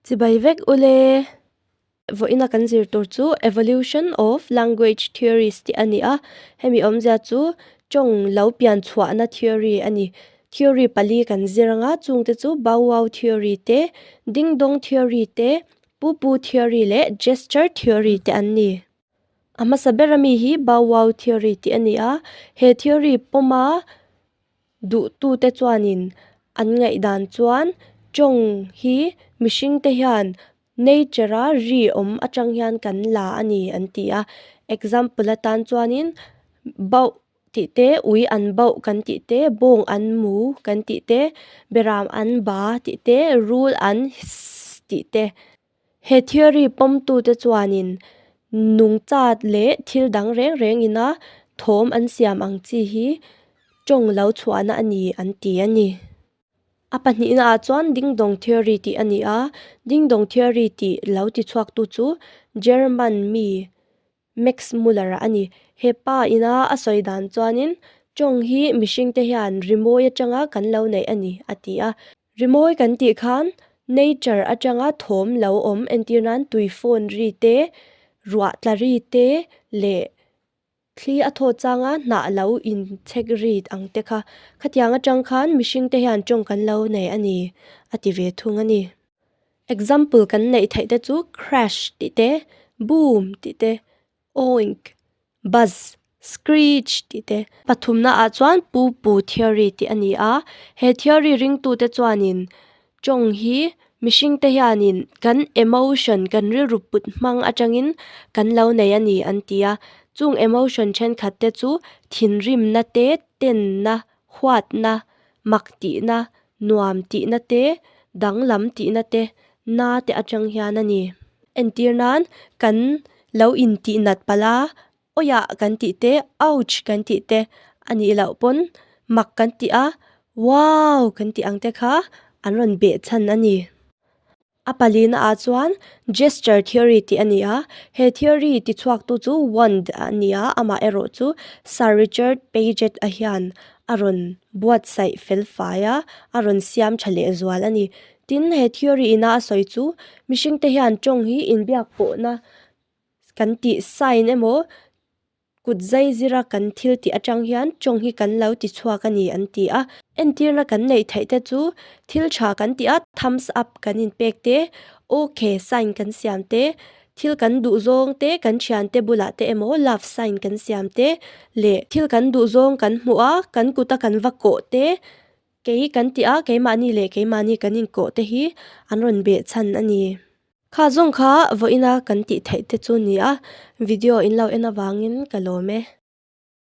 Chibai vek u le. Vawiina kan zir tur chu evolution of language theories tih a ni a, hemi awmzia chu tawng lo pian chhuahna theory a ni. Theory pali kan zir ang a, chung te chu Bow-wow theory te, Ding-dong theory te, Poo-poo theory leh Gesture theory te an ni. A hmasa ber ami hi Bow-wow theory tih a ni a, he theory pawma duhtute chuanin an ngaih dan chuan tawng hi mihring te hian nature a ri awm atang hian kan la a ni an ti a. Example atan chuanin bawh tih te, ui an bawh kan tih te, bawng an mu kan tih te, bera an ba tih te, rul an hss tih te. He theory pawmtute chuanin nungchat leh thil dang reng reng ina thawm an siam ang chi hi tawng lo chhuahna a ni an ti a ni. A pahnihna ah chuan Ding Dong Theory tih a ni a, Ding Dong Theory tih lo ti chhuaktu chu German mi Max Muller, a ni. Hepa ina a sawi dan chuanin, Chong hi mihringte hian rimawi atanga kan lo neih a ni, a ti a. Rimawi kan tih khan nature atanga thawm lo awm entir nan tui fawn ri te, ruah tla ri te leh thli a thaw changa hnah lo in chek ri ang te kha khatiang atang khan mihringte hian chong kan lo nei a ni, a ti ve thung a ni. Example kan neih theih te chu crash tih te, boom tih te, oink, buzz, screech tih te. Pathumna ah chuan Pu Pu theory tih a ni a, he theory ringtu te chuanin Chong hi mihring te hianin kan emotion kan rilru put hmang atangin kan lo nei a ni an ti a, chung emotion thenkhat te chu thinrimna te, tenna, huatna, mak tihna, nuam tihna te, danglam tihna te, na te atang hian a ni. Entir nan kan lo intih nat palh a, Oi a kan tih te, Ouch kan tih te a nih loh pawn mak kan tih a, Wow kan tih ang te kha an rawn beh chhan a ni. A pali naah chuan gesture theory tih a ni a, he theory tichhuaktu chu Wundt a ni a, amah erawh chu Sir Richard Paget a hian a rawn buatsaih fel fai a, a rawn siam tha lehzual a ni. Tin, he theory ina a sawi chu, mihringte hian tawng hi inbiak pawhna kan tih sign emaw, Kut zaizira kan thil tih atang hian tawng hi kan lo ti chhuak a ni an ti a. Entirna kan neih theih te chu thil tha kan tih a, thumbs up kan inpek te, OK sign kan siam te, thil kan duh zawng te kan thian te bulah te emaw love sign kan siam te leh thil kan duh zawng kan hmuh a, kan kuta kan va kawh te, kei kan tih a keimahni leh keimahni kan inkawh te hi an rawn beh chhan a ni. Kha zawng kha vawiina kan tih theih te chu ni a, video in lo en avangin ka lawm e.